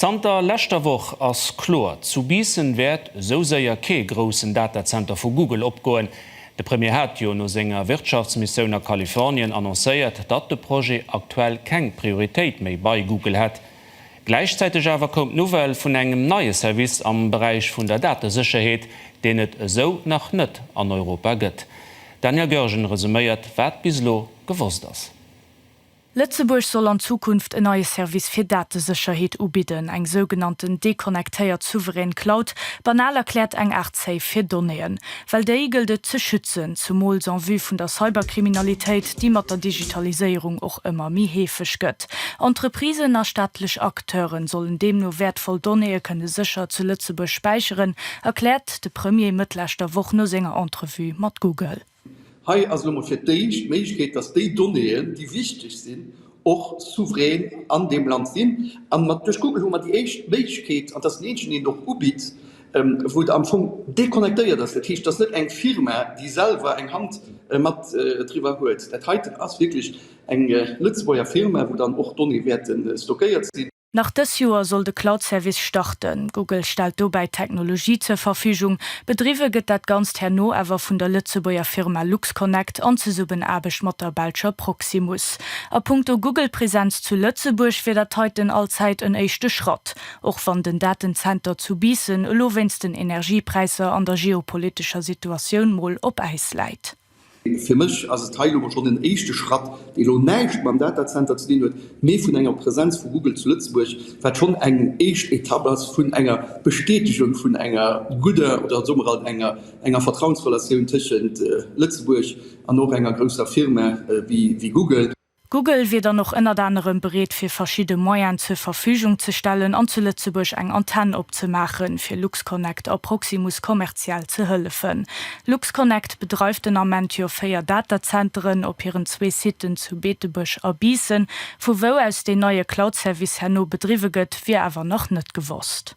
Zanter leschter Woch ass kloer, zu Biissen wäert esou séier kee groussen Datazenter vu Google opgoen. De Premier hat jo no senger Wirtschaftsmissioun a Kalifornien annoncéiert, datt de Projet aktuell keng Prioritéit méi bei Google hätt. Gläichzäiteg awer koum d'Nouvelle vun engem neie Service am Beräich vun der Datesécherheet, deen et esou nach net an Europa gëtt. D'Dania Goergen resuméiert, wat bis elo gewosst ass. Lëtzebuerg soll an Zukunft en neie Service fir Datesécherheet ubidden, eng sougenannten deconnectéiert souverän Cloud, banal erkläert eng Aart Safe fir Donnéeën. Well déi gëllt et ze schützen, zumools en vue vun der Cyberkriminalitéit, déi mat der Digitaliséierung och ëmmer méi heefeg gëtt. Entreprisen a staatlech Acteure sollen deemno wäertvoll Donnéeë kënne sécher zu Lëtzebuerg späicheren, erkläert de Premier Mëtt leschter Woch no senger Entrevue mat Google. Hei ass elo mol fir d'éischt d'Méiglechkeet, dass déi Donnéeën, déi wichteg sinn, och souverän an deem Land sinn. An mat duerch Google hu mer déi éischt Méiglechkeet, an et ass déi eenzeg, déi een och ubitt, wou et am Fong deconnectéiert ass. Dat heescht, et ass net eng Firma, déi selwer eng Hand mat driwwer huet. Dat heiten ass wierklech eng Lëtzebuerger Firma, wou dann och d'Donnéeë wäerte stockéiert sinn. Nach dës Joer soll de Cloud-Service starten. Google stellt dobäi d'Technologie zur Verfügung. Bedriwwe gëtt dat Ganzt herno awer vun der Lëtzebuerger Firma LuxConnect an Zesummenaarbecht mat der belscher Proximus. A punkto Google-Presenz zu Lëtzebuerg wier dat heiten allzäit en éischte Schratt, och wann den Datenzenter zu Biissen elo wéinst den Energiepräisser an der geopolitescher Situatioun mol op Äis läit. Fir mech ass et hei elo mol schonn en éischte Schratt, dee elo näischt mam Datacenter ze dinn huet, mee vun enger Presenz vu Google zu Lëtzebuerg, wat schonn eng éischt Etapp ass vun enger Bestätegung vun enger gudder, oder soe mer alt enger, enger Vertrauensrelatioun tëschent Lëtzebuerg an och enger grousser Firma wéi Google. Google wier dann och ënnert anerem bereet fir verschidde Moyen zur Verfügung ze stellen an zu Lëtzebuerg eng Antenn opzemaachen, fir LuxConnect a Proximus kommerziell ze hëllefen. LuxConnect bedreift den Ament jo 4 Datazenteren op hiren zwee Siten zu Beetebuerg a Biissen. Vu wou aus deen neie Cloud-Service herno bedriwwe gëtt, wier awer nach net gewosst.